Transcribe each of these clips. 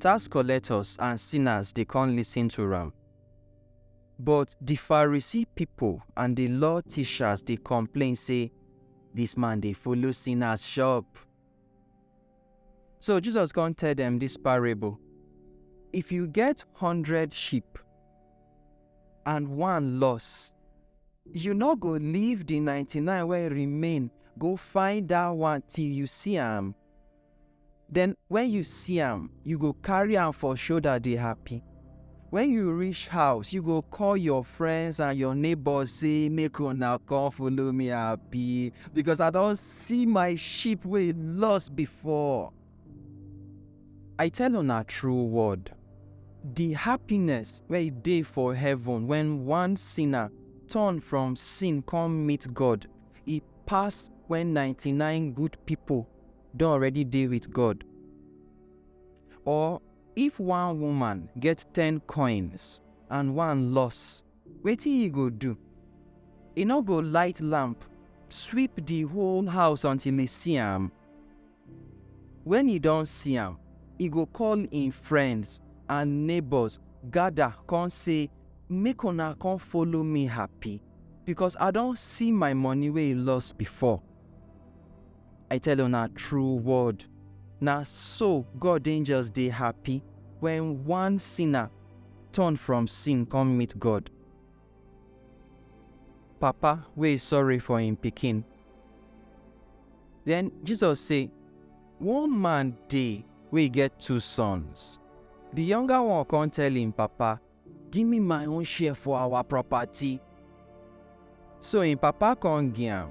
Tax collectors and sinners dey kon listen to am. But di Pharisee pipol and di law tishas dey komplain sey, Dis man dey follow sinners shop. So Jesus kon tell dem dis parable, If yu get hundred sheep and one loss, yu nor go leave di ninety-nine wey remain go find dat one till yu si am? Then when you see am, you go carry am for shoulder dey happy. When you reach house, you go call your friends and your neighbors say make una come follow me happy because I don see my sheep wey lost before. I tell una true word, the happiness wey dey for heaven when one sinner turn from sin come meet God, e pass when 99 good people don already dey with God? Or if one woman get ten coins and one loss, wetin e go do? E no go light lamp, sweep the whole house until e see am? When e don see am, e go call im friends and neighbors gather come say, Make una come follow me happy, because I don see my money wey e loss before. I tell una true word, na so God angels dey happy when one sinner turn from sin come meet God. Papa wey sorry for im pikin. Then Jesus say, One man dey wey get two sons. The younger one come tell im papa, Give me my own share for our property. So im papa come give am.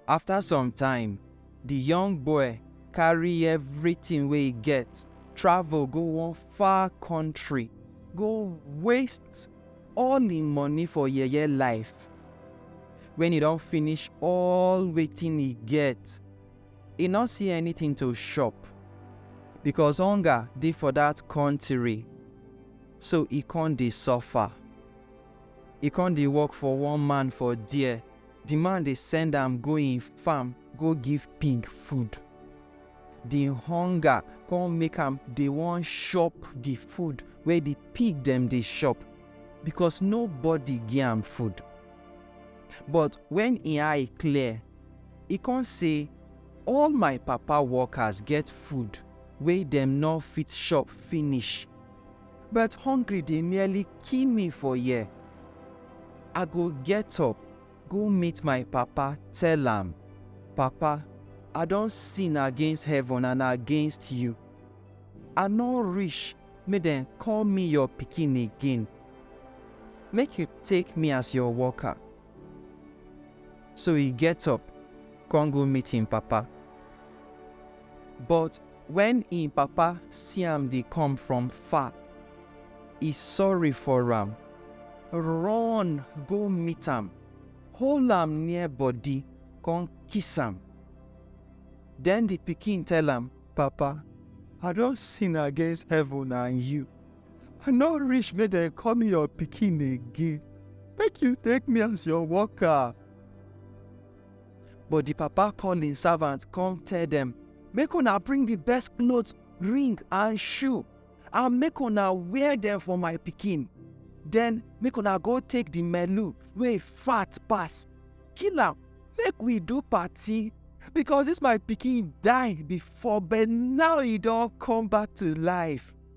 After some time, the young boy carry everything wey e get travel go one far country go waste all im money for yeye life. When e don finish all wetin e get, E nor see anytin to shop, bikos onga dey for dat kontiri, so e kon dey sofa. E kon dey work for one man for der, di man dey send am go en farm go give pig food. Di honga kon make am dey won shop di food wey di pig dem dey shop, bikos nobody gi am food. But wen en eye clear. E kon sey, All my Papa workers get food wey dem nor fit shop finish, but hongry dey nearly kill mi for here. I go get up go meet my Papa tell am, Papa, I don sin against heaven and against yu. I nor rish make dem koll mi yor pikin again. Make yu take mi as yor worker. So he get up, come go meet him papa. But when him papa see am dey come from far, he sorry for am, run go meet am, hold am near body, come kiss am. Then the pikin tell am, Papa, I don sin against heaven and you. I no reach make dem call me your pikin again. Make you take me as your worker. But the papa call him servant come tell them, make una bring the best clothes, ring and shoe, and make una wear them for my pikin. Then make una go take the melu wey fat pass, kill am, make we do party. Because this my pikin die before, but now he don come back to life.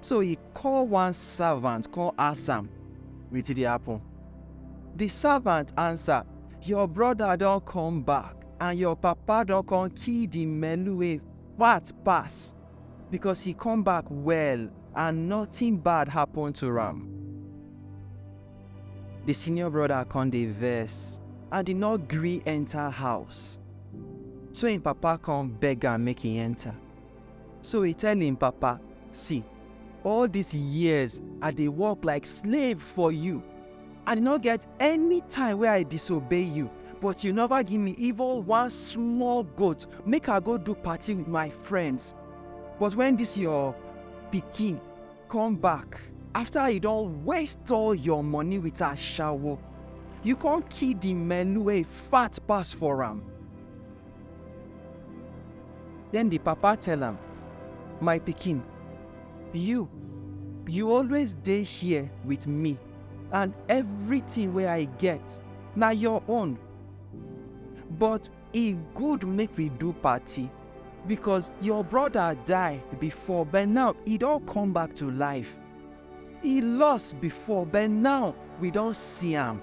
So he call one servant come ask am wetin dey happen. The servant answer, Your brother don come back and your papa don come kill the melu wey fat pass because he come back well and nothing bad happen to am. The senior brother come dey vex and he no gree enter house. So him papa come beg am make he enter. So he tell him papa, See, all these years I dey work like slave for you. I no get any time wey I disobey you, but you never give me even one small goat make I go do party with my friends. But when this your pikin come back after he don waste all your money with ashawo, you come kill the melu wey fat pass for am. Den di papa tell am, My pikin, yu yu always dey here with mi and evritin wey I get na yor own. But e good make wi do party bikos yor broda die bifor but naw e don kom back to life. E loss bifor but naw wi don si am.